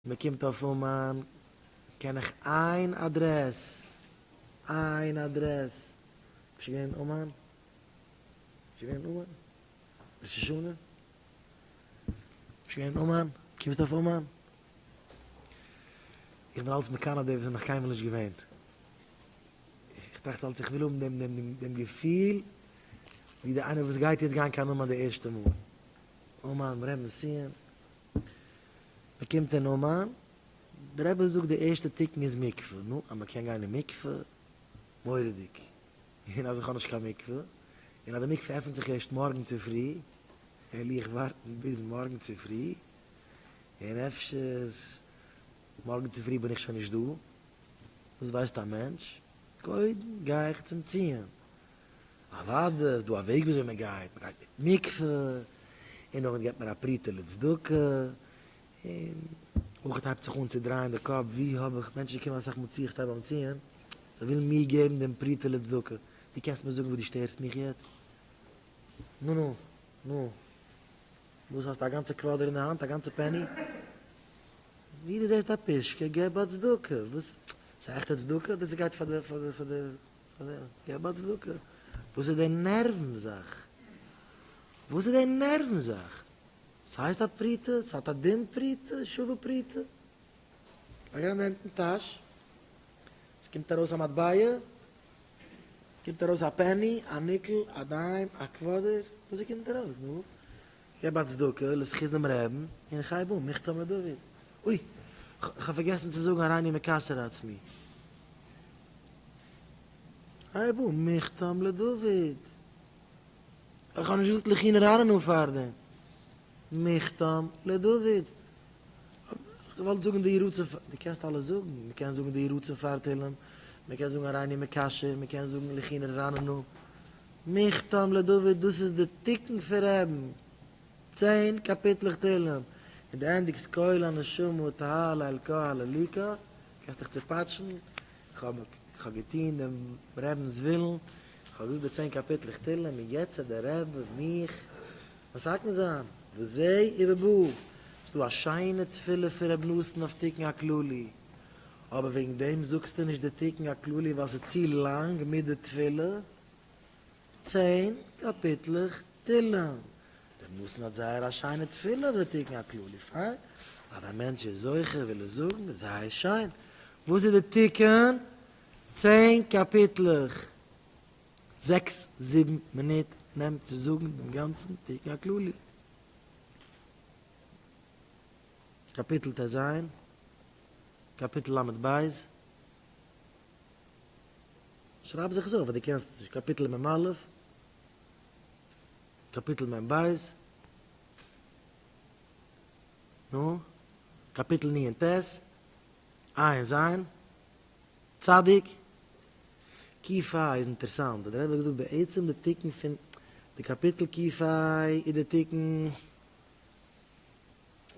מען קומט אויף אומאן קען איך איין אדרעס איין אדרעס ביסט געווען אין אומאן? ביסט געווען אין אומאן ראש השנה? ביסט געווען אין אומאן? קומסט אויף אומאן? איך בין אלץ מקנא די וואס זענען נאך קיינמאל נישט געווען. איך טראכט אלץ איך וויל האבן דעם דעם דעם געפיל ווי די איינער וואס גייט יעצט גיין קיין אומאן די ערשטע מאל. אומאן, רמז ציון, מען קומט אין אומאן, דער רבי זאגט די ערשטע תיקון איז מקווה, נו, אז מען קען גיין אין מקווה, מורא'דיג, און אז איך האב נישט קיין מקווה, און אז די מקווה עפנט זיך ערשט מארגן צופרי, העל איך ווארטן ביז מארגן צופרי, און אפשר מארגן צופרי בין איך שוין נישט דא, וואס ווייסט א מענטש, קודם גיי איך צום ציון, אוואדע איז דא א וועג וויאזוי מען גייט, מען גייט מיט מקווה, און נאכדעם געבט מען א פרוטה לצדקה, און אויך הייבט זיך אן צו דרייען די קאפ, ווי האב איך, מענטשן קומען אסאך מאל צו איך טרעף ביים ציון, זיי ווילן מיר געבן דעם פרוטה לצדקה, דו קענסט מיר זאגן וואס דו שטערסט מיך יעצט? נו נו נו, וואס האסטו א גאנצע קוואדער אין די האנט, א גאנצע פעני? ווי דו זעסט א פושקע, געב א צדקה, וואס, ס'איז עכטע צדקה אדער ס'גייט פאר די. געב א צדקה. וואס איז די נערוון זאך? וואס איז די נערוון זאך? ס'הייסט א פרוטה? ס'האט א דין פרוטה? שווה פרוטה? לייג אריין די הענט אין טאש, ס'קומט ארויס א מטבע, ס'קומט ארויס א פעני, א ניקל, א דיים, א קוואדער, וואס ס'קומט ארויס, נו? געב א צדקה לזכות דעם רעבן און כ'הייב אן, מכתב מדוד. אוי! כ'האב פארגעסן צו זאגן הריני מקצר עצמי. כ'הייב אן, מכתב לדוד. אוי כ'האב נישט געזאגט לכי נראינו פארדעם. מכתב לדוד. כ'האב געוואלט זאגן די ירוץ און, דו קענסט אלעס זאגן, מ'קען זאגן די ירוץ און פאר תהלים, מ'קען זאגן הריני מקשר, מ'קען זאגן לכי נראינו. מכתם לדוד דאס איז די תיקון פון רעבן, צען קאפיטלעך תהלים, און די ענדיגסט קול הנשמה טהרה לאלקה הלליקה, קענסט דיך צופאטשן, איך האב געטון דעם רעבנס ווילן, איך האב געזאגט די צען קאפיטלעך תהלים און יעצט האט דער רעב מיך מסכן זיין, וזה ובבא, ס'דא א שיינע תפילה פון רעב נתן אויף תיקון הכללי. אבער וועגן דעם זאגסטו נישט די תיקון הכללי ווייל ס'איז צו לאנג מיט די תפילה, צען קאפיטלעך תהילים. דער נותן האט זייער א שיינע תפילה אויף די תיקון הכללי, פיין, אז א מענטש איז זוכה וויל ער זאגן, איז זייער שיין. וואס איז די תיקון? צען קאפיטלעך, זעקס זיבן מינוט נעמט צו זאגן דעם גאנצן תיקון הכללי. קאפיטל טז. קאפיטל למד בית, שרייב זיך עס אויף אז דו קענסט עס נישט, קאפיטל מ א', קאפיטל מ ב, נו, קאפיטל נ און ט, ע' און ז', צ', קי פ איז אינטערסאנט, ווייל דער רבי האט געזאגט בעצם די תיקון פון די קאפיטל קי פ איז די תיקון.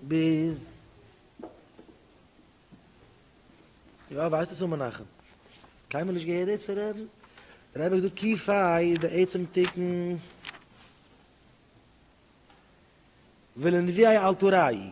ביז יא ווייסט עס און מנחם קיינמאל נישט געהערט דאס פון רעבן רעבן האט געזאגט קי פיי איז די עצם תיקון ולנביאי אל תוראי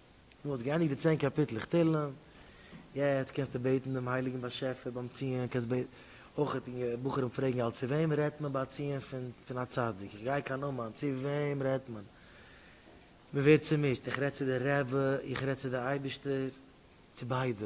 דו האסט געענדיגט די צען קאפיטלעך תהלים, יעצט קענסטו בעטן דעם הייליגן באשעפער ביים ציון, קענסט אויך בחורים פרעגן אלץ צו וועם רעדט מען ביי א ציון פון א צדיק, איך גיי קיין אומאן, צו וועם רעדט מען? מען ווערט צומישט, איך רעד צו די רבי, איך רעד צו די אייבערשטער, צו ביידע,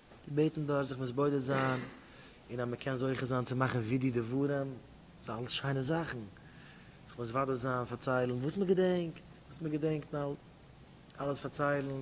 געבעטן דארט זיך מתבודד זיין, און אז מען קען זוכה זיין צו מאכן ווידוי דברים, ס'איז אלעס שיינע זאכן, זיך מתוודה זיין, פארציילן וואס מען געדענקט, וואס מען געדענקט, אלעס פארציילן,